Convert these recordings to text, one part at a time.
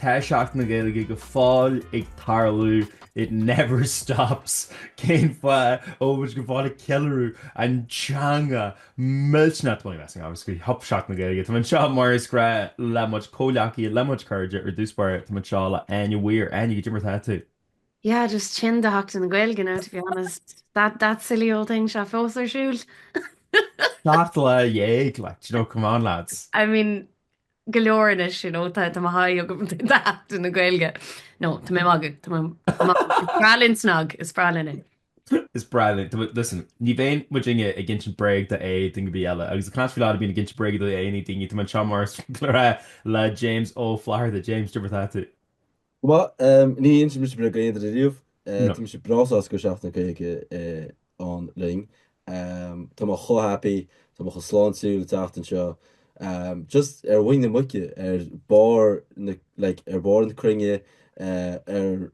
Tá Seachtain na Gaeilge go fóill ag tarlú, it never stops! Cén fáth a bhfuil muid go fóill ag ceiliúradh an teanga? Millteanas maith as an ábhar faoi Sheachtain na Gaeilge. Táim anseo mar is gnách le mo chomhghleacaithe, le mo chairde ar dtús báire, táim anseo le hÁine Mhaoir. Áine, goidé mar atá tú? Yeah, just tinn de Sheachtain na Gaeilge now, to be honest. That, that silly old thing seo fós ar siúl. Seacht lá dhéag, like, do you know, come on lads. I mean, go leor anois, you know, tá mo sháith agam de Sheachtain na Gaeilge. No, tá mé magadh, tá mé magadh. Is breá linn SnaG, is breá linn é. Is breá linn, tá muid, listen, ní bhíonn muidinne ag insint bréag do aon duine ar bith eile, agus I cannot feel bad about being ag insint bréag do aon duine, tá mé anseo mar is gnách le James Ó Flatharta, James, goidé mar atá tú? Go maith. Ní insíonn mise bréag do aon duine riamh. Tá mise breá sásta go raibh Seachtain na Gaeilge ann linn. Tá mé chomh happy, tá mé chomh sláintiúil an tseachtain seo. Just ar mhuin na muice, ar barr na, like, ar bharr na cruinne, ar,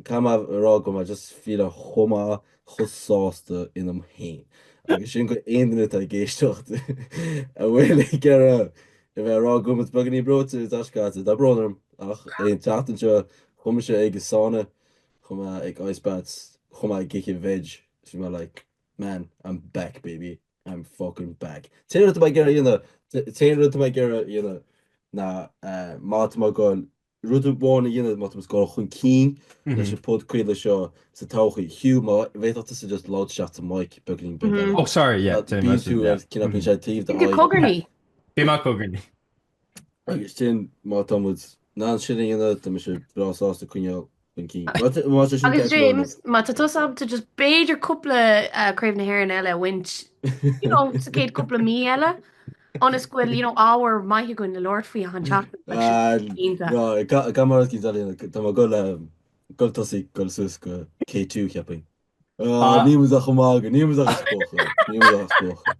caithfidh mé a rá go raibh mé just ag feeláil chomh maith, chomh sásta ionam féin. Agus sin do aon duine atá ag éisteacht a bhfuil ag iarraidh. A bheith ag rá go bhfuil mise beagáinín breoite tá a fhios agat, tá brón orm, ach an tseachtain seo chuaigh mise ag an sauna, chuaigh mé ag ice baths, chuaigh mé ag ithe veg, is bhí mé like, man, I'm back baby, I'm fucking back. An t-aon rud atá mé ag iarraidh a dhéanamh, an t-aon rud atá mé ag iarraidh a dhéanamh ná má tá mé ag dul Rud amháin a dhéanamh, má tá muid ag dul chun cinn leis an podchraoladh seo sa todhchaí. Hugh, má bhféadfadh tusa just labhairt isteach sa mic beagáinín beag eile. Oh sorry, yeah. Tá bíonn tú ar cinneadh bíonn sé taobh de aghaidh. Cogarnaí. Bhí mé cogarnaí. Agus sin má tá muid in ann sin a dhéanamh, tá mise breá sásta coinneáil. Thank you. What a- what a sin Agus tá a fhios agat James, má tá tusa ábalta just b'fhéidir cúpla uh, Craobh na hÉireann eile a bhaint, you know, sa céad cúpla mí eile, ionas go bhfuil, you know, ábhar maith againn le labhairt faoi achan seachtain. Like, sin Ah, rud ínta. No, ga, ga mar cí dalí tá mé ag goil um, ag goil ag tosaí ag goil suas go K2 ceapaim. Ah, Ah. níl mise ach ag magadh, níl mise ach ag spochadh. Níl mise ach ag spochadh.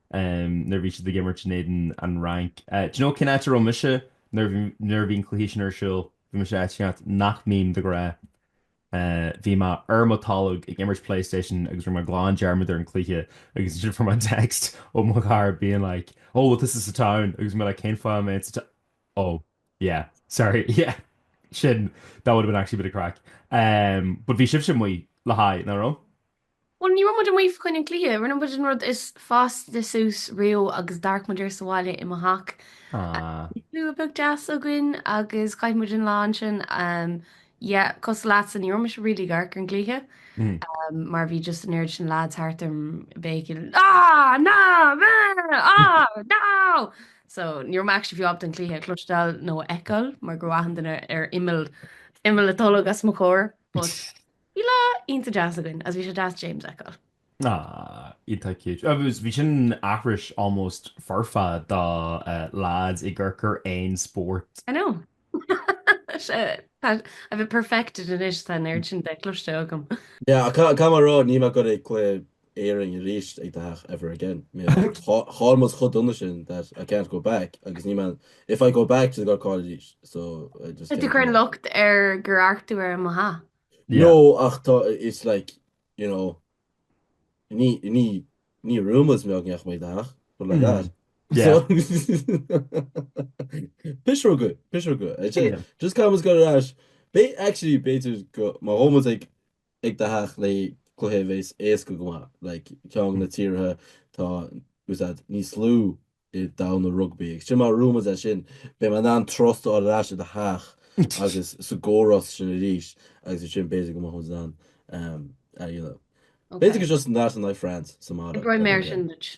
em nuair a bhí siad ag imirt in éadan an Fhrainc eh do you know cén áit a raibh mise nuair a bhí nuair a bhí an cluiche sin ar siúl bhí mise áit éigin áit nach mbím de ghnáth eh bhí mé ar mo tolg ag imirt playstation agus rinne mé glan dearmad ar an cluiche agus ansin fuair mé text ó mo chara being like oh well this is the town agus mé like cén fáth a mbeinn sa ta- oh yeah sorry yeah sin that would have been actually a bit of crack em but bhí sibhse amuigh le haghaidh nach raibh? Bhuel, ní raibh muid amuigh fá choinne an cluiche, rinne muid an rud is fásta suas riamh agus d'amharc muid air sa bhaile i mo theach. Bhí slua beag deas againn agus chaith muid an lá ansin. Yeah, cosúil leatsa, ní raibh mise really ag amharc ar an cluiche mar bhí just an oiread sin lads thart orm ag béicíl Ah! Ná! Bheh! Ah! Now! So, ní raibh mé actually fiú ábalta an cluiche a chloisteáil nó a fheiceáil mar go raibh achan duine ar imeall, imeall an tolg os mo chomhair but. Bhí lá iontach deas againn agus bhí sé deas James a fheiceáil. Ah, iontach cute. Agus bhí sin aithris almost foirfe de lads ag amharc ar aon spórt. I know. Sea, tá, I've it perfected anois, tá an oiread sin de cloiste agam. Yeah, ach caithfidh mé a rá, níl mé ag gabháil ag cluiche Éireann arís ag do theach ever again. Chaill muid chomh dona sin that I can't go back agus ní mbeinn, if I go back she's gonna caill arís so I just can't. Tá tú ag cur an locht ar gur amharc tú ar an mbeatha. No ach tá, it's like, you know, ní, ní, ní raibh muid mé againn ag do theach, but like that. Yeah. Piseoga, piseoga. Just caithfidh muid gabháil ar ais. Actually b'fhéidir go, má théann muid ag ag do theach le cluiche a bheas éasca go maith le ceann de na tíortha atá ag úsáid níos lú i ndomhan an rugbaí. Agus sin má bhuann muid é sin, beidh mé in ann trust a fháil ar ais i do theach agus sa gcóras sin arís agus ansin b'fhéidir go mbeadh muid in ann a dhéanamh. B'fhéidir go just in áit in aghaidh France sa mbaile. Oibreoidh mé ar sin duit.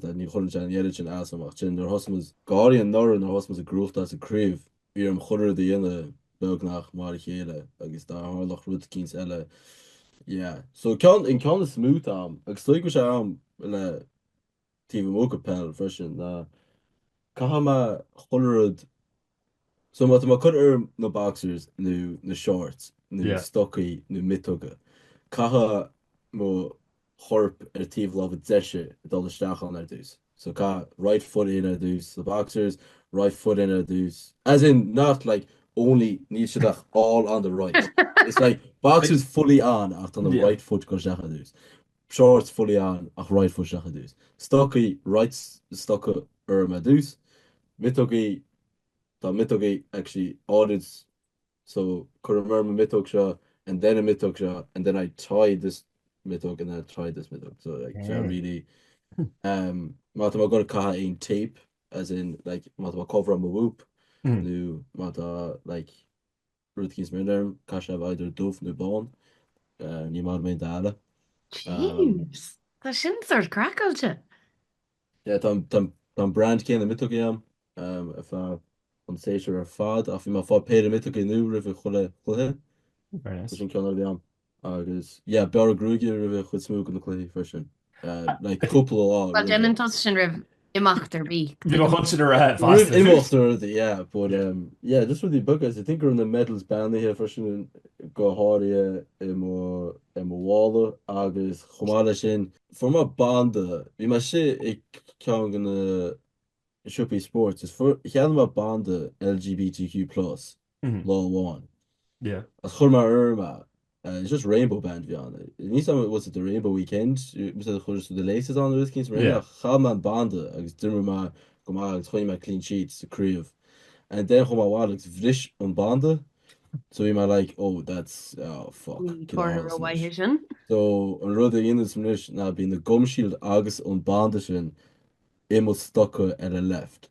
Tá ní chuireann sé an oiread sin as dom, ach ansin nuair a thosaigh muid go háirithe anuraidh nuair a thosaigh muid ag gnóthachtáil sa gcraobh, bhí orm chuile rud a dhéanamh beagnach mar a chéile agus dá tharlódh rud eicínt eile yeah. So ceann, an ceann is mó atá agam, agus is dóigh go bhfuil sé agam le taobh amuigh de peil freisin ná caithfidh mé chuile rud, So má tá mé ag cur orm na boxers nó na shorts nó Yeah. stocaí nó miotoga, caithfidh mo chorp ar taobh láimhe deise dul isteach ann ar dtús. So caithfidh right foot in ar dtús sa boxers, right foot in ar dtús. As in not like only, níl siad ach all on the right. It's like boxers fully on ach tá an Yeah. right foot ag gabháil isteach ar dtús. Shorts fully on ach right foot isteach ar dtús. Stocaí, right stoca orm ar dtús. Miotógaí, tá miotógaí actually ordered so cuirim orm an miotóg seo and then an miotóg seo and then I tie this miotóg and then I tie this miotóg so like is é really um má tá mé ag gabháil ag caitheamh aon tape as in like má tá mé ag coveráil mo whoop nó má tá like Rud eicínt similar orm, caithfidh sé a bheith either dubh nó bán, ní maith liom aon dath eile. Jeez! Tá sin sort craiceáilte! Yeah, tá an, tá, tá an brand céanna miotógaí agam ar feadh an tséasúir ar fad, ach bhí mé ag fáil péire miotógaí nua roimh chuile chluiche. Very nice. Tá sin ceann eile agam. Agus yeah, bearradh gruaige roimh chuid is mó de na cluichí freisin. Like cúpla lá. Bhuel, déanann tusa sin roimh imeacht ar bith. Bhí mé chun sin a rá fosta. Roimh imeacht ar bith, yeah, but um, yeah, just rudaí beaga. I think go raibh na medals beannaithe freisin go háirithe i mo, i mo mhála agus chomh maith leis sin, fuair mé banda, bhí mé istigh i gceann de na siopaí spóirt is fuair, cheannaigh mé banda LGBTQ plus. lá amháin. Agus chuir mé orm é, it's just rainbow band bhí ann. Níl a fhios a'm, was it the rainbow weekend? Más ea do chuir siad the laces on níl mé cinnte ach chaith mé an banda agus d'imir mé go maith agus choinnigh mé clean sheet sa craobh. And then chuaigh mé abhaile agus bhris an banda so bhí mé like oh that's oh fuck Ní comhartha rómhaith é sin. So an rud a dhéanaim anois ná bíonn an gum shield agus an banda sin i mo stoca ar an left.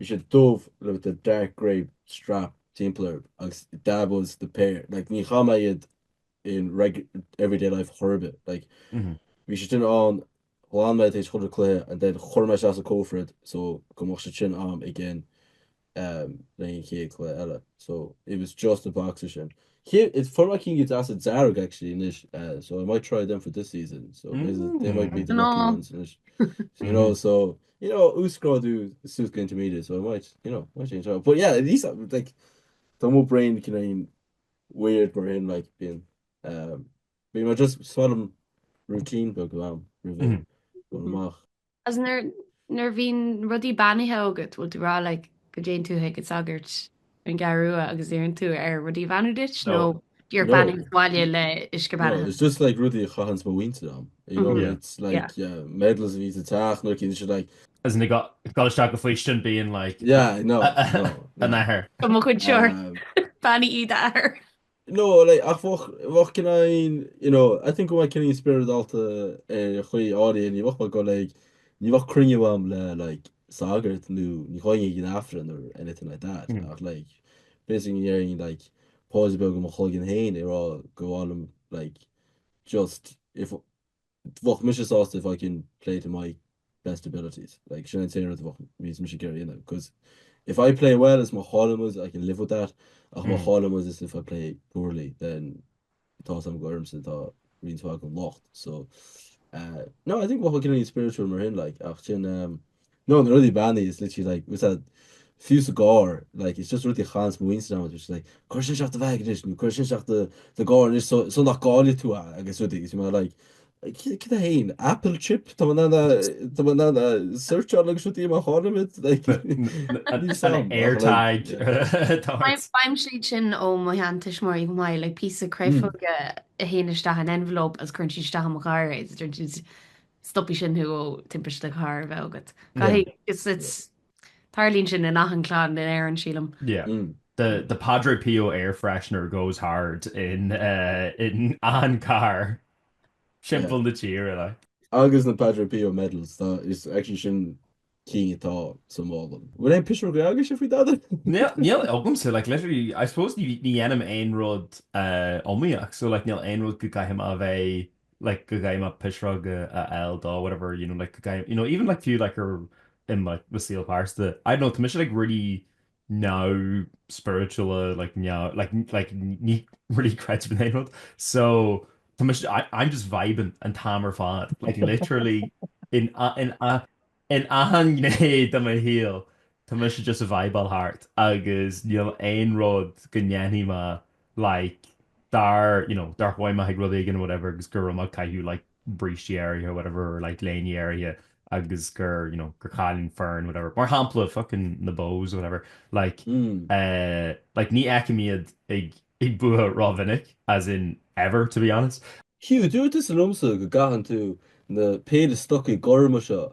Bhí sé dubh le with a dark grey strap timpeall air agus that was the pair like ní chaith mé iad in reg everyday life chor ar bith like bhí siad sin ann ghlan mé tar éis chuile cluiche and then chuir mé isteach sa cófra iad so go mbeadh siad sin a'm again um, le an chéad cluiche eile so it was just the boxer sin Cé, is fuair mé cinn deasa dearg actually anois uh, so I might try them for this season so they might be the lucky ones anois you know so You know, uasghrádú suas go intermediate, so I might, you know, might change that. But yeah, at least, like, tá mo brain cineál weird mar sin, like, bíonn, um, bíonn mé just is maith liom routine beag agam, roimh ré Mhm. dul amach. Is nuair nuair bhíonn rudaí beannaithe agat, bhfuil tú ag rá, like, go dtéann tú chuig an sagart. an gCeathrú Rua agus iarrann tú air rudaí beannú duit nó iad a bheannú sa mbaile le uisce beannaithe. No, it's just like rudaí a chaitheanns mo mhuintir a'm, you know, it's like medals a bhí sa teach nuair a cinn sé like. As in, ag dul isteach go faoistin being like, yeah, no, no, no. A Athair. Mo chuid siúr, beannaigh iad a athair. No like ach bheadh bheadh mé cineál you know I think go mbeadh mé cineál spioradálta ar chaoi áirithe ní bheadh mé go like ní bheadh cruinniú a'm le like sagart nó ní ghabhfainn ag an Aifreann or anything like that Mm. ach like b'fhéidir go ndéarfainn like paidir bheag i mo chloigeann féin ag rá go bhfaighim like just if bheadh mise sásta if I can play to my best abilities like sin an t-aon rud a bheadh bhíonns mise ag iarraidh a dhéanamh 'cause if I play well is má chailleann muid I can live with that ach má chailleann muid is if I play poorly then tá a fhios a'm gur ormsa atá roinnt mhaith den locht so eh no I think bheadh mé cineál spiritual mar shin like ach sin eh No, na rudaí beannaithe is literally like, with a few sa gcarr, like, it's just rudaí a chaithfeas mo mhuintir ann, which is like, cuir sin isteach i do bheag anois, nó cuir sin isteach sa gcarr anois so nach gcaillfidh tú é agus rudaí, agus bhí mé like, céard é féin? Apple chip? Tá mé in ann a tá mé in ann é searcháil agus rudaí má chaillimid, like, níl a fhios agam. An AirTag atá ort. Bainim úsáid as sin ó m'aintín mar oíche mhaith, like píosa créafóige a théann isteach in envelope agus cuireann siad isteach i mo charr é, stopfaidh sin thú ó timpiste cairr a bheith agat. Caithfidh, is it's, tarlaíonn sin in achan clann in Éirinn sílim. Yeah. Mm. The, the Padre Pio air freshener goes hard in, uh, in achan carr timpeall na tíre, like. Agus na Padre Pio medals, tá, is actually sin cinn atá sa mhála. An bhfuil aon phiseoga agatsa faoi dada? Níl, níl agamsa, like literally, I suppose ní, ní dhéanaim aon rud iomaíoch, so like níl aon rud go gcaithfidh mé a bheith like go gcaithfidh mé pisreoga a fháil do whatever you know like go gcaithfidh, you know even like fiú like ar, in like mo saol pearsanta, I don't know tá mise like really neamhspioradálta like neamh like like ní really creidim in aon rud so tá mé I'm just vibing an t-am ar fad like literally in in in achan gné de mo shaol tá mé just ag vibeáil thart agus níl aon rud go ndéanfainn má like dar you know dar chuaigh mé ag rud éigin whatever agus go raibh mé ag caitheamh like brístí áirithe whatever or like léine áirithe agus gur you know gur chaill an fhoireann whatever mar shampla fucking na Bohs whatever like eh like ní fheicim iad ag ag bua ró-mhinic as in ever to be honest. Hugh, dúirt tusa liomsa go gcaitheann tú an péire stocaí gorma seo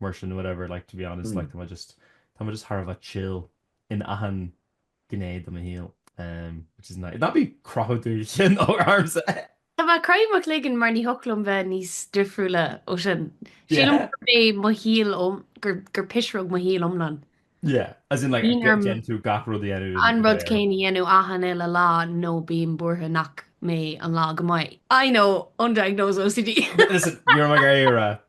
mar sin whatever like to be honest like tá mé just tá mé just thar a bheith chill in achan gné de mo shaol umm which is nice. Ná bí ag croitheadh do chinn orm eh! Tá mé ag croitheadh mo chloigeann mar ní thig liom bheith níos difriúla ó sin. Sílim gur mé mo shaol gur gur pisreog mo shaol iomlán. Yeah, as in like déanann tú gach rud a dhéanamh. An rud céanna a dhéanamh achan uile lá nó bím buartha nach mbeidh an lá go maith. I know, undiagnosed OCD. Listen, you're my era.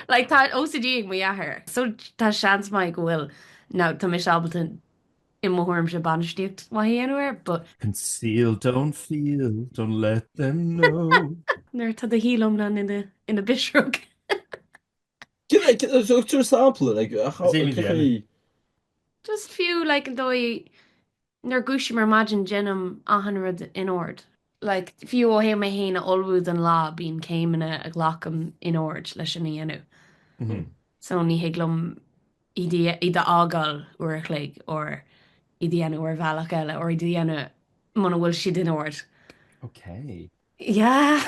Like tá OCD ag mo dheartháir. So tá seans maith go bhfuil ná tá mise ábalta i mo thuairimse bainistíocht maith a dhéanamh air but. Conceal, don't feel, don't let them know. Nuair tá do shaol iomlán ina phisreog. Tabhair sampla, a Chaitlín. Just fiú like an dóigh nuair a dhúisím ar maidin déanaim achan rud in ord. Like fiú ó thaobh mé fhéin a ullmhú don lá bíonn céimeanna a ghlacaim in ord leis sin a dhéanamh so ní thig liom iad a fhágáil uair a chloig or iad a dhéanamh ar bhealach eile or iad a dhéanamh muna bhfuil siad in ord. Yeah!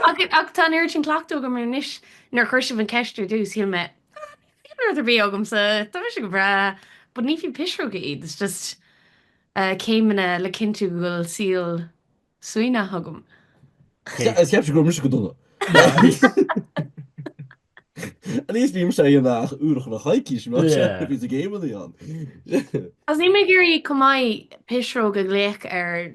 Ach tá an oiread sin cleachtaidh agam air anois, nuair a chuir sibh an ceist ar dtús, shíl mé, ah, níl rud ar bith agamsa, tá mise go breá, but ní fiú piseoga iad, it's just céimeanna le cinntiú go bhfuil saol suaimhneach agam. Cheapfá go raibh mise go dona. At least ní bhím á dhéanamh ach uair chuile coicís mar sin bhí céimeanna ann. Agus níl mé ag iarraidh cineál piseoga a ghlaoch ar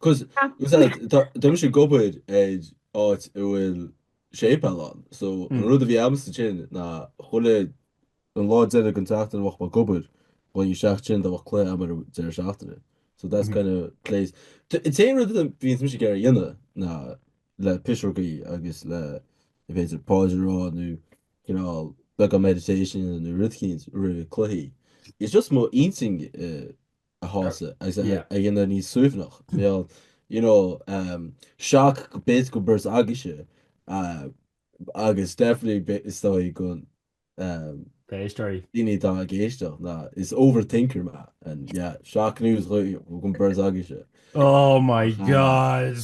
Cosúil really, tá tá mise ag obair ar áit a bhfuil séipéal ann, so an rud a bhí a'msa ansin ná chuile lá deiridh den tseachtain a bheadh mé ag obair, chuaigh isteach ann dá mbeadh cluiche a'm ar an deireadh seachtaine. So that's kind of place. T- an t-aon rud a bhíonns mise ag iarraidh a dhéanamh ná le piseogaí agus le b'fhéidir paidir a rá nó cineál beagán meditation nó rud éicint roimh chluichí. It's just mo intinn i a shásamh agus a dhéanamh níos suaimhneach. Bheadh, you know, shock, bet go bheirt agaibhse agus definitely is dóigh do na héisteoirí daoine atá ag éisteacht ná is overthinker mé and yeah, shock news don bheirt agaibhse. Oh my God!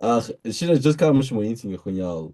Ach sin é, just caithfidh mise mo intinn a choinneáil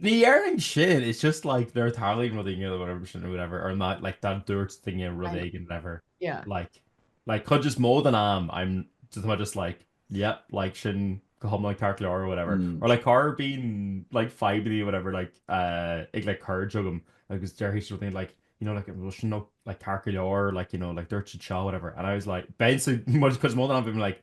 Ní dhéarfainn sin, it's just like nuair a tarlaíonn rud éigin whatever or like má dúirt duine rud éigin whatever Yeah. like like cuid is mó den am I'm just tá mé just like yep like sin go hiomlán ceart leor or whatever Mm. or like nuair a bíonn like fadhbannaí whatever like uh, ag like cairde agam agus déarfaidh siad rud éigin like you know like bhfuil sin nó like ceart go leor like you know like dúirt si seo whatever and I was like b'in so much cuid is mó den am bhí mé like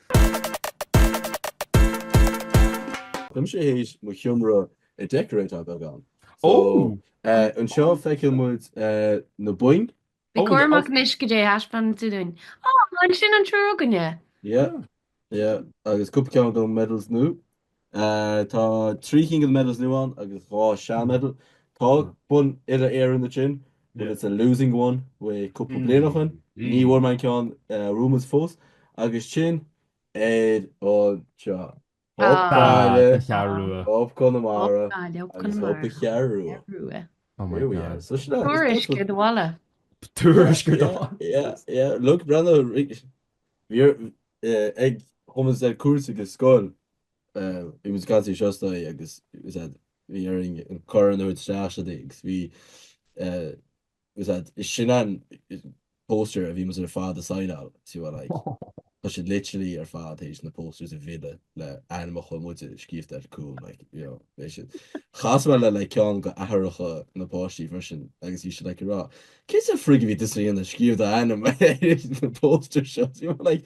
Tá mise théis mo sheomra a decoratáil beagán. So, eh, anseo feiceann muid, eh, na boinn. Bí cúramach anois goidé a thaispeánann tú dúinn. Á, an sin an triúr againne? Yeah, yeah, agus cúpla ceann de medals nua. Tá trí cinn de medals nua ann agus dhá sean medal. Tá bonn Uile-Éireann ansin but it's a losing one ó cúpla bliain ó shin. Ní bhfuair mé an ceann Romans fós agus sin iad seo. Up Gaillimh, Up Conamara agus Up an Cheathrú Rua. Oh my god. So sin. Tuairisc ar do bhaile. Tuairisc ar do bhaile. Yeah, yeah. Look, Brando, bhí comórtas cosa go scoil I was ar an seastán agus bhí ar an chorruair isteach siad agus bhí is sin an poster a bhí muid ar fad a sighneáil so like tá siad literally ar fad tar éis na posters a mhilleadh le ainmneacha muide scríofa ar cúl like you know bhí siad chas mé le like ceann de aithreacha na páistí freisin agus bhí siad like ag rá cé sa frig a bhí tusa féin ag scríobh do ainm ar na posters seo you know like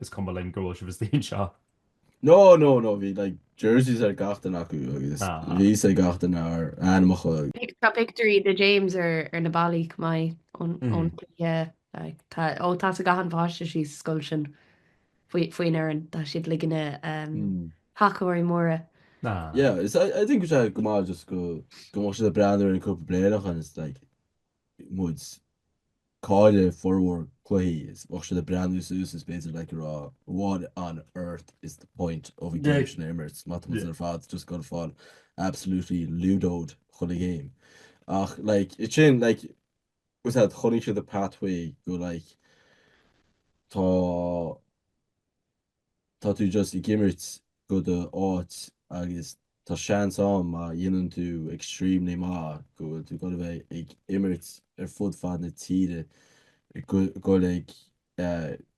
is cuma linn go bhfuil sibh istigh anseo. No, no, no, bhí like jerseys ar gach duine acu agus bhí fhios ag gach duine ár ainmeacha. Tá pictiúirí de James ar na ballaí chomh maith ón gcluiche, like tá, oh tá fhios ag gach aon pháiste sa scoil sin faoin fhoireann, tá siad like ina thacadóirí móra. Yeah, is I think go maith just go go mbeadh siad ag breathnú orainn cúpla bliain ó shoin, it's like. muid ag cailleadh formhór cluichí, is bheadh siad ag breathnú suas, is basically like ag rá what on earth is the point of a game sin a imirt, má tá muid ar fad just ag goil ag fáil absolutely ludoed chaon game. Ach like, it sin like, was that chonaic siad the pathway go like, tá. tá tú just ag imirt go do áit agus tá seans ann má dhéanann tú extremely maith go bhfuil tú ag goil a bheith ag imirt ar fud fad na tíre ag goil ag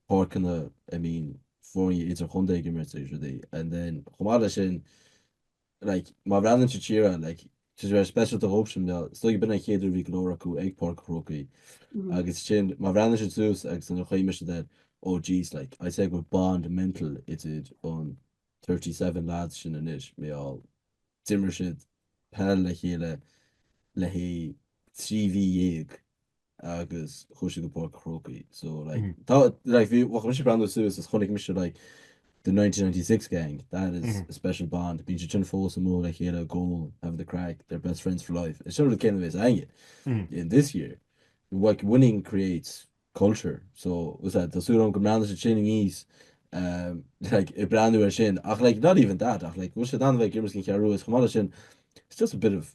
páirceanna I mean foirne idirchontae ag imirt agus rudaí and then chomh maith leis sin like, má bhreathnaíonn siad siar air, like, tá sé very speisialta dhóibhsean, you know, is dóigh go b'in an chéad uair bhí go leor acu ag Páirc an Chrócaigh agus sin, má bhreathnaíonn siad suas agus nuair a chuimhnigh mise air, oh jeez, like, I'd say go bhfuil bond mental idir an thirty seven lads sin anois, mar gheall d'imir siad peil le chéile le haghaidh trí mhí dhéag. agus chuaigh siad go Páirc an Chrócaigh so like tá like bhí bheadh mise breathnú suas is chonaic mise like the 1996 gang that is a special bond bíonn siad sin fós amuigh le chéile i gcónaí having the craic they're best friends for life is sin rud céanna a bhéas againne in this year like winning creates culture so what's that tá súil agam go mbreathnaigh siad sin aníos um like ag breathnú ar sin ach like not even that ach like bhfuil siad in ann a bheith ag imirt don Cheathrú is chomh maith leis sin it's just a bit of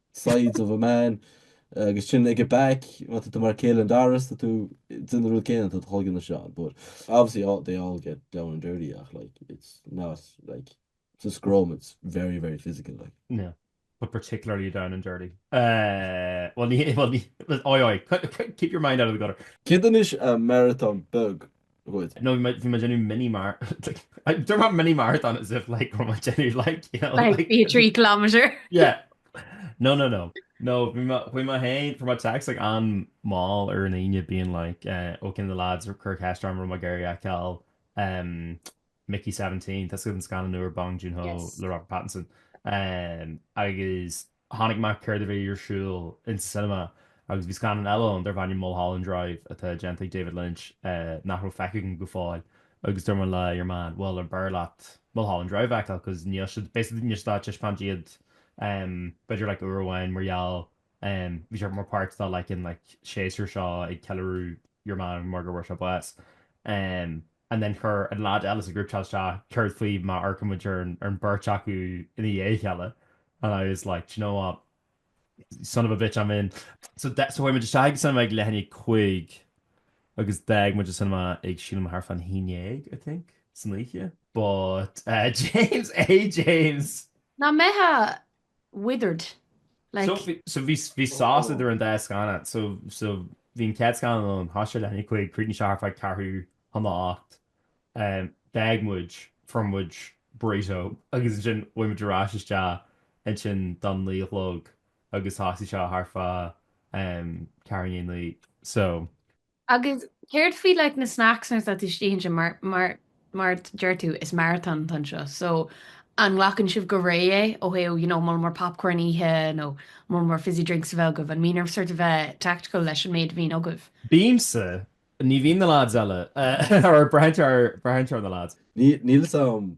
sides of a man, agus sin ag a back, má tá tú mar Caelan Doris, tá tú den rud céanna, tá tú chomh cionn is John, but obviously all, they all get down and dirty ach like it's not like sa scrum it's very very physical like. No, but particularly down and dirty. Bhuel ní, bhuel ní, aye aye, keep your mind out of the gutter. Céard anois a marathon beag Good. No, bhí mé déanú mini mar Dú mar mini marathon as if like ru déanú like you know like bhí trí kilometer yeah no no no no bhí má hain for my text like an má ar an aine bíon like eh, ó cin the lads ar cur hastra ru a gaiir a ceall um Mickey 17 tá go an scan nuair bang June Hall le Robert Pattinson um, agus Chonaic mé céard a bhí ar siúl insa cinema agus bhí scannán eile ann darb ainm Mulholland Drive atá déanta ag David Lynch nach raibh feicthe agam go fóill agus dúirt mé le your man bhuel ar b'fhearr leat Mulholland Drive a fheiceáil cause níl siad basically níl siad ag taispeáint iad b'fhéidir like uair amháin mar gheall bhí sé mar páirt dá like an like séasúr seo ag ceiliúradh your man mar go bhfuair sé bás agus and then chuir an lad eile sa group-chat isteach céard faoi má amharcaimid ar an beirt acu ina dhiaidh a chéile and I was like, do you know what, son of a bitch I'm in. So chuaigh muid isteach ag an cinema ag leath i ndiaidh a cúig agus d'fhág muid an cinema ag, sílim, thart fán haon déag, I think, san oíche. But, eh, James, eh James! Ná mbeadh withered, like. So bhí sás idir an dá scannán. So bhí an chéad scannán ann, thosaigh sé leath i ndiaidh a 5, chríochnaigh sé thart faoi ceathrú chun a hocht. D'fhág muid, fuair muid burrito agus ansin chuaigh muid ar ais isteach ansin do naoi a chlog agus thosaigh sé thart faoi ceathrú i ndiaidh a naoi. So Agus céard faoi like na snacks nuair atá tú istigh ansin mar, mar, mar deir tú is marathon atá anseo so an nglacann sibh go réidh é ó thaobh you know mol mór popcorn a ithe nó mol mór fizzy drinks a bheith agaibh an mbíonn ort sort of bheith tactical leis an méid a bhíonn agaibh? Bímse, ní bhíonn na lads eile, eh or braitheann sé ar, braitheann sé ar na lads. Ní, níl 'fhios a'm.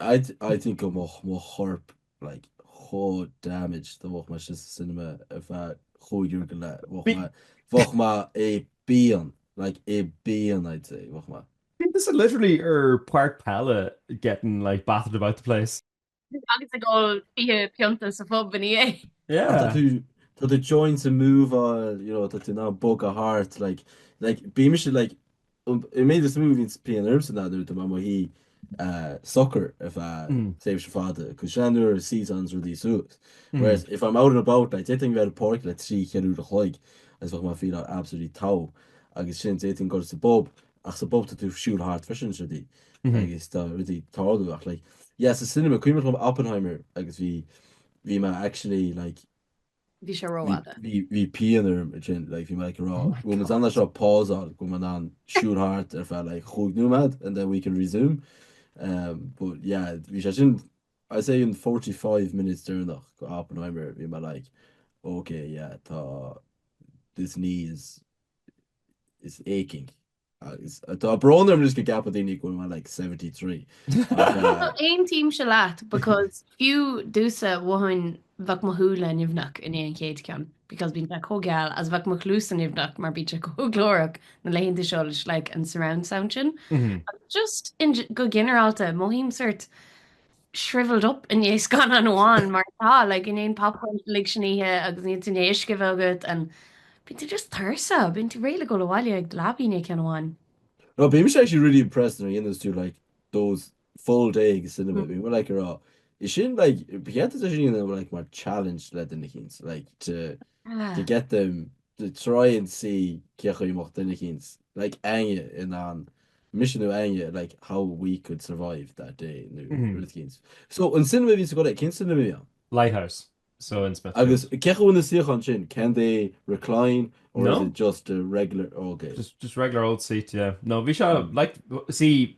I think go mbeadh mo chorp like chomh damaged dá mbeadh mé sin sa cinema ar feadh cúig uair go leith. Bheadh Bí- mé bheadh mé i bpian, like i bpian I'd say bheadh mé. Unless literally ar páirc peile getting like battered about the place. Agus ag ól fiche pionta sa phub ina dhiaidh. Tá Yeah. tú tá tú joints ag move you know tá tú á mbogadh thart like like bímse like I made this movie tá pian ormsa anois dá mbeadh mé i mo shuí socair ar feadh chomh fada leis sin an uair a seasanns rudaí suas whereas if I'm out and about like d'fhéadfainn bheith ar an páirc like trí ceithre uair a chloig agus bheadh mé fíor absolutely tall agus sin d'fhéadfainn goil sa bpub ach sa bpub tá tú ag siúl thart freisin is rudaí agus tá rudaí ag tarlú ach like yeah sa cinema cuimhin liom Oppenheimer agus bhí bhí mé actually like Bhí sé rófhada. Bhí pian orm ansin, like, bhí mé ag rá, go bhfuil muid in ann é seo a pauseáil, go bhfuil mé in ann siúl thart ar feadh, like, chúig nóiméad and then we can resume. But yeah, bhí sé sin, I'd say an forty five minutes deireanach de Oppenheimer, bhí mé like, ok, yeah, tá, this knee is, is aching. Agus tá brón orm anois go gceapfadh daoine go bhfuil mé like seventy three ach eh. Aontaímse leat because fiú domsa mhothainn bheadh mo shúile nimhneach i ndiaidh an chéad cheann because bíonn sé chomh geal is bheadh mo chluasa nimhneach mar bíonn sé chomh glórach na laethanta seo leis like an surround sound sin. Agus just in go ginearálta mothaím sort shriveled up i ndiaidh scannán amháin mar tá tú, like, i ndiaidh an popcorn uilig sin a ithe agus níl tú in ann uisce a bheith agat and bíonn tú just tuirseach, bíonn tú réidh le dhul abhaile agus dul a luí i ndiaidh ceann amháin. No, bímse actually really impressed nuair a dhéananns tú like those full day ag cinema, bhí muid like ag rá, is sin like, ba cheart duit é sin a dhéanamh like mar challenge le duine eicínt like to, to get them to try and see cé chaoi a mbeadh duine eicínt like Áine in ann mise nó Áine like how we could survive that day nó Mhm. rud eicínt. So an cinema a bhí tú ag goil, cén cinema a bhí ann? Lighthouse. So in Smith. Agus cén chaoi na suíocháin sin, can they recline or No. is it just a regular, oh, okay. just just regular old seat, yeah. No, bhí se Mm. like see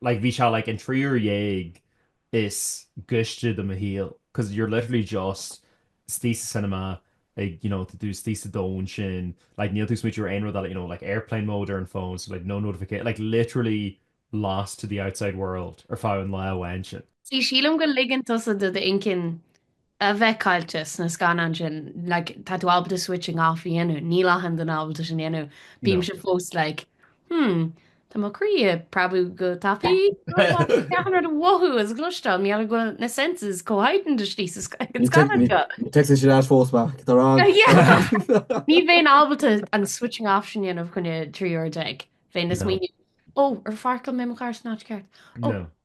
like bhí sé like na trí uair déag is gaiste de mo shaol because you're literally just istigh sa cinema ag you know tá tú istigh sa domhan sin like níl tú ag smaointiú ar aon rud eile you know like airplane mode ar an bhfón so like no notification like literally lost to the outside world ar feadh an lae amháin sin. Sea, sílim go ligeann tusa do d'intinn a bheith caillte sna scannáin sin, like, tá tú ábalta switching off a dhéanamh, níl achan duine ábalta sin a dhéanamh, bímse fós like, hmm, tá mo chroí ag preabadh go tapaidh, achan rud a mhothú agus a chloisteáil, mothaím go bhfuil na senses chomh heightened istigh sa scannán seo. Ní teagann sé leat fós, Mac, tá rá. Yeah! Ní bheinn ábalta an switching off sin a dhéanamh i gcoinne trí uair déag, bheinn ag smaoineamh, oh, ar pháirceáil mé mo charr san áit cheart? Oh,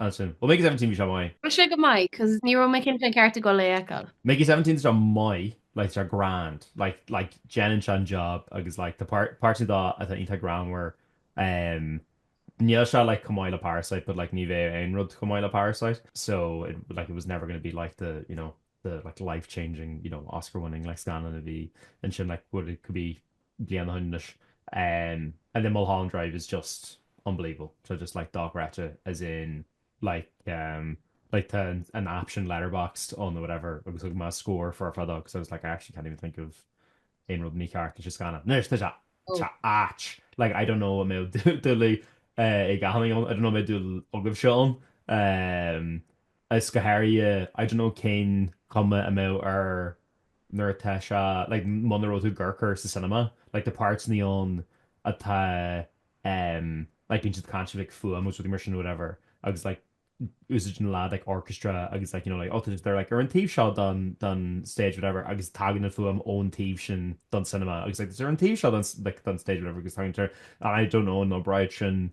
Bhuel, Mickey 17 bhí sé maith. Bhí sé go maith, cos ní raibh muid cinnte céard a bhí muid ag dul a fheiceáil. Mickey 17 tá sé maith, like tá sé grand, like like déanann sé an job agus like tá páirt páirteanna dó atá iontach greannmhar, ehm níl sé like chomh maith le Parasite but like ní bheadh aon rud chomh maith le Parasite so it like it was never gonna be like the you know. the like life changing, you know, Oscar winning like scannán a bhí ansin like what i gcúig bliain ó shin anois ehm and then Mulholland Drive is just unbelievable tá just like dochreidte as in like ehm like tá an app sin Letterboxd ann or whatever agus thug mé score four ar fad agus I was like I actually can't even think of aon rud mícheart leis an scannán. Anois tá sé oh tá áit like I don't know an mbeidh dúil ag éinne ann I don't know an mbeidh dúil agaibhse ann ehm is go háirithe, I don't know cén chuma a mbeadh ar nuair atá sé like muna raibh tú ag amharc air sa cinema, like tá páirteannaí ann atá em like bíonn siad ag caint faoi like fuaim agus rudaí mar sin nó whatever agus like úsáideann na leaids like orchestra agus like you know like oh they're like ar an taobh seo don don stage whatever agus tagann an fuaim ón taobh sin don cinema agus like ar an taobh seo don like don stage whatever agus tagann sé I don't know an oibreodh sin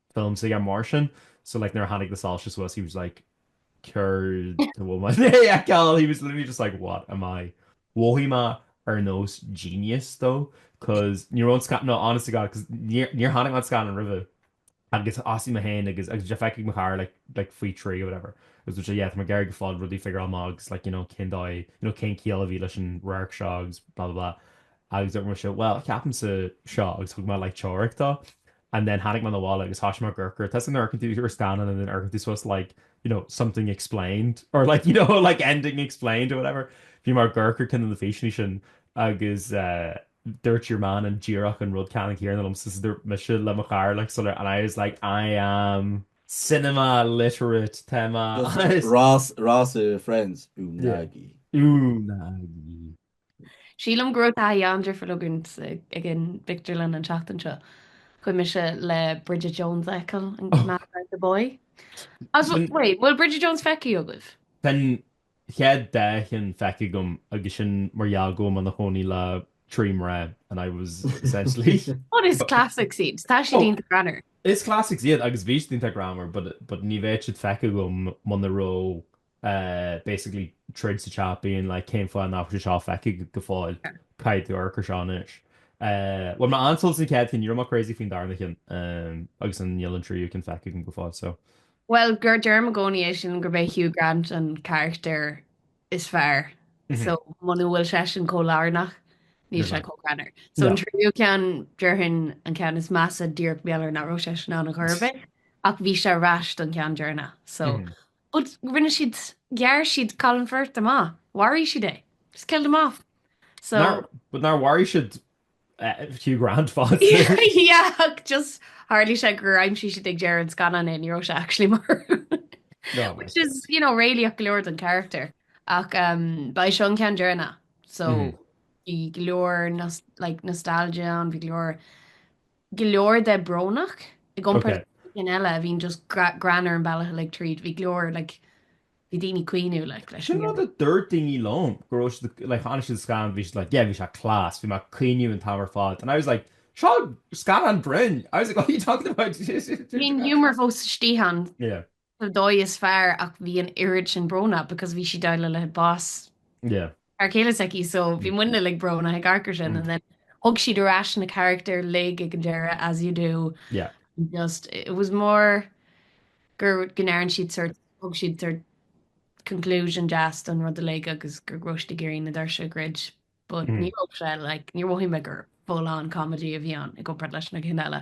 films like mar sin so like nuair a tháinig na soilse suas he was like céard a bhfuil mé i ndiaidh a fheiceáil? He was literally just like what am I mhothaigh mé ar nós genius though cos ní raibh an scann no honest to god cos níor níor tháinig an scann roimhe agus bhí sé i ndiaidh é a fheiceáil cheana, feicthe ag mo chara like like faoi thrí or whatever agus dúirt sé yeah tá mé ag iarraidh go fóill rudaí a figure out amach agus like you know cén dóigh you know cén ciall a bhí leis an radharc seo agus blah blah blah agus dúirt mise well cheapaimse seo agus thug mé like teoiric dó And then tháinig mé abhaile agus thoisigh mé ag amharc air. Tá a fhios agat nuair a amharcann tú ar scannán and then amharcann tú suas like, you know, something explained or like, you know, like ending explained or whatever. Bhí mé ag amharc ar cheann de na físeanna sin agus eh dúirt your man go díreach an rud ceannann céanna liom so dúirt mise le mo chara like sular and I was like, I am cinema literate tá mé Ross, Ross i Friends, Unagi. Unagi. Sílim go raibh taithí an-difriúil againn ag an phictiúrlann an tseachtain seo. Chuaigh mise le Bridget Jones' a fheiceáil, an Mad About the Boy. As an, wait, bhfuil Bridget Jones' feicthe agaibh? Tá an chéad dá cheann feicthe agam agus sin mar gheall go bhfuil mé ina chónaí le trí mná and I was essentially. But is classics iad, tá siad iontach greannmhar. Is classics iad agus bhí siad iontach greannmhar but ní bheadh siad feicthe agam muna raibh basically troid sa teach being like cén fáth nach bhfuil sé seo feicthe go fóill, caithfidh tú amharc ar seo anois. Bhain mé an-sult as an chéad cheann, ní raibh mé crazy faoin darna ceann agus an níl an tríú ceann feicthe agam go fóill so. Bhuel gur deirim i gcónaí é sin gurb é Hugh Grant an carachtar is fearr so muna bhfuil seisean chomh lárnach níl sé chomh greannmhar. So an tríú ceann déarfainn an ceann is measa díreach mar gheall ar nach raibh seisean ann chor ar bith ach bhí sé ar ais don cheann deireanach so. But rinne siad, ghearr siad Colin Firth amach, mharaigh siad é. Just killed him off. So. Nár, but nár mharaigh siad Hugh Grant fosta. Yeah, ach just tharlaigh sé gur aimsigh siad ag deireadh an scannáin é, ní raibh sé actually marbh. No. Which is, you know, réalaíoch go leor don charachtar. Ach um, ba é seo an ceann deireanach. So, bhí go leor like, nostalgia ann, bhí go leor go leor de brónach i gcomparáid leis na cinn eile a bhíonn just greannmhar an bealach uilig tríd. Bhí go leor like bhí daoine caoineadh like leis an. Sin rud a dúirt daoine liom go raibh siad like tháinig siad scannán bhí siad like yeah bhí sé class bhí mé caoineadh an t-am ar fad and I was like seo scannán grinn I was like what are you talking about Bhí an humour fós istigh ann. Yeah. Well dóigh is fearr ach bhí an oiread sin brónach because bhí sí ag déileáil le bás Yeah. fear céile s'aici so bhí muidne like brónach ag amharc ar sin and then thug siad ar ais na carachtair uilig ag an deireadh as you do Yeah. and just it was more gur go ndearn siad sort thug siad sort conclusion deas don rud uilig agus go raibh siad ag iarraidh na doirse a dhruid but ní raibh sé like níor mhothaigh mé gur full on comedy a bhí ann i gcomparáid leis na cinn eile.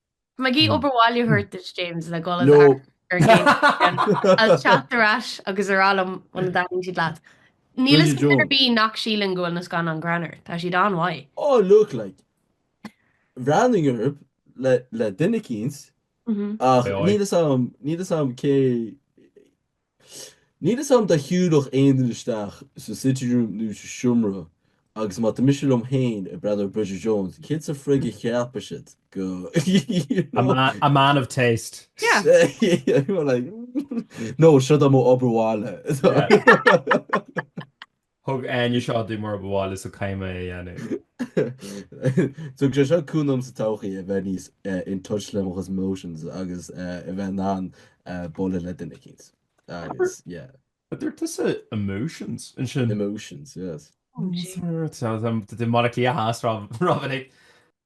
Maggie obair bhaile a thabhairt duit, James, le dul ag amharc air, is teacht ar ais agus a rá liom an dtaitníonn siad leat. Níl fhios agam ar bith nach síleann go bhfuil na scannáin greannmhar, tá siad an-mhaith. Oh look like bhreathnóinn orthu le duine eicínt ach níl fhios agam cé Níl fhios a'm dá shiúlfadh aon duine isteach sa sitting room nó sa seomra agus má tá mise liom féin ag breathnú ar Bridget Jones, céard sa frig a cheapfadh siad go, you know? A man of taste. Yeah. Nó siod é m'obair bhaile. Thug, an aon seó a ba mhaith liomsa choíche a dhéanamh. Thug sé seo cúnamh domsa sa todhchaí a bheith níos in touch le mo chuid emotions agus a bheith in ann bualadh le duine eicínt agus yeah. An dúirt tusa emotions ansin? Emotions, yes. Tá mé i mBaile Átha Cliath, Ró-mhinic.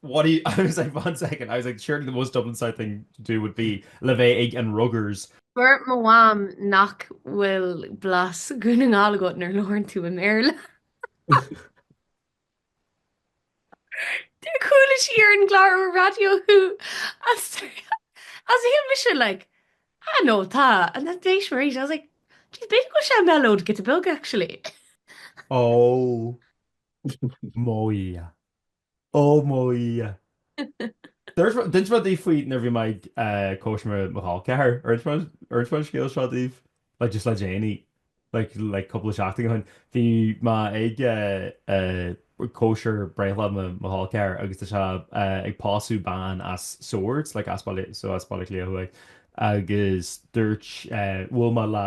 What do you, I was like one second, I was like surely the most Dublin South thing to do would be le bheith ag an ruggers. Dúirt mo mham nach bhfuil blas Dhún na nGall agat nuair labhrann tú i mBéarla. Chuala sí ar an gclárú raidió thú agus bhí mise like ah no tá and that day she was right I was like jeez b'fhéidir go bhfuil sé mellowed giota beag actually. Oh mo dhia. Ó mo Dhia! Dúirt mé, d'inis mé daoibh faoi nuair a bhí mé ag cóisir mo chol ceathrair. Ar inis mé an scéal seo daoibh? Like just le déanaí. Like, like cúpla seachtain ó shin. Bhí mé ag cóisir breithlá mo chol ceathrair agus tá sé ag pósadh bean as Swords, like as Baile, so as Baile Átha Cliath thuaidh. Agus dúirt, bhuail mé le,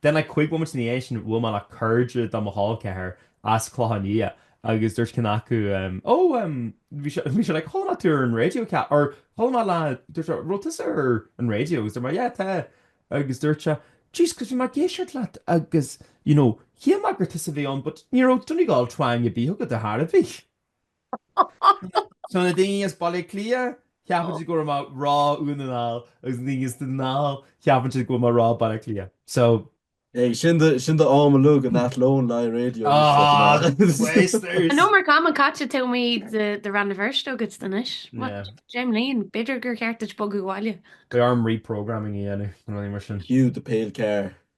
Then like cúig bhomaite ina dhiaidh sin bhuail mé le cairde de mo chol ceathrair as Clochán Liath agus dúirt ceann acu, Ó, bhí sé, bhí sé like, chuala mé tú ar an raidió ce, or chuala mé lá, dúirt sé, raibh tusa ar an raidió agus dúirt mé, yeah, tá, agus dúirt sé, jeez, cos bhí mé ag éisteacht leat agus, you know, shíl mé gur tusa a bhí ann but ní raibh Donegal twang ar bith agat ar a bhí. Tá na daoine as Baile Átha Cliath, ceapann siad go raibh mé ag rá Dún na nGall, agus na daoine as Dún na nGall, ceapann siad go raibh mé ag rá Baile Átha Cliath. So. Hey, sin do, sin do am a luaigh an Athlone Live Radio Ah, liom seo mná. wasters! I know mar cam an caite tá mo chuid Rann na Feirste agam anois. What? Yeah. Deich mbliain? B'fhéidir gur cheart duit bogadh abhaile. Beidh orm reprogramming a dhéanamh, nó rudaí mar sin. Hugh Carr.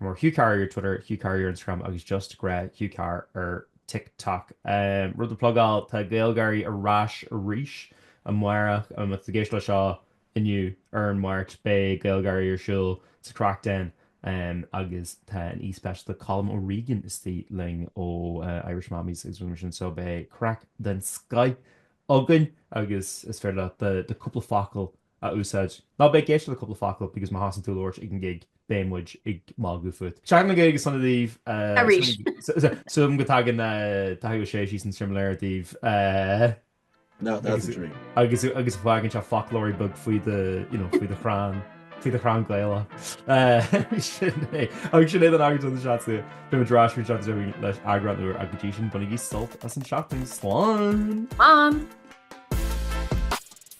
Mar Hugh Carr ar Twitter, Hugh Carr ar Instagram agus just grá Hugh Carr ar TikTok. Rud a plugáil, tá GaelGÁIRÍ ar ais arís amárach. Má tá tú ag éisteacht le seo inniu ar an Máirt, beidh GaelGÁIRÍ ar siúl sa Craic Den agus tá an aoi speisialta Colm O'Regan istigh linn ó Irish Mammies agus rud mar sin, so beidh craic den scoth againn agus is féidir leat do cúpla focal a úsáid. Ná bí ag éisteacht le Cúpla Focal because má thosaíonn tú a labhairt ag an gig, beidh muid ag magadh fút. Seachtain na Gaeilge sona daoibh. Arís. Súil agam go dtagann Daithí Ó Sé síos an simléar daoibh. Now that's a dream. Agus agus fágann sé foclóirí beag faoi do, you know, faoi do chrann, faoi do chrann Gaelach. Sin é. Agus sin é don eagrán seo den Seansálaí. Beidh muid ar ais an tseachtain seo chugainn le heagrán úr ach go dtí sin bainigí sult as an tseachtain. Slán! Slán!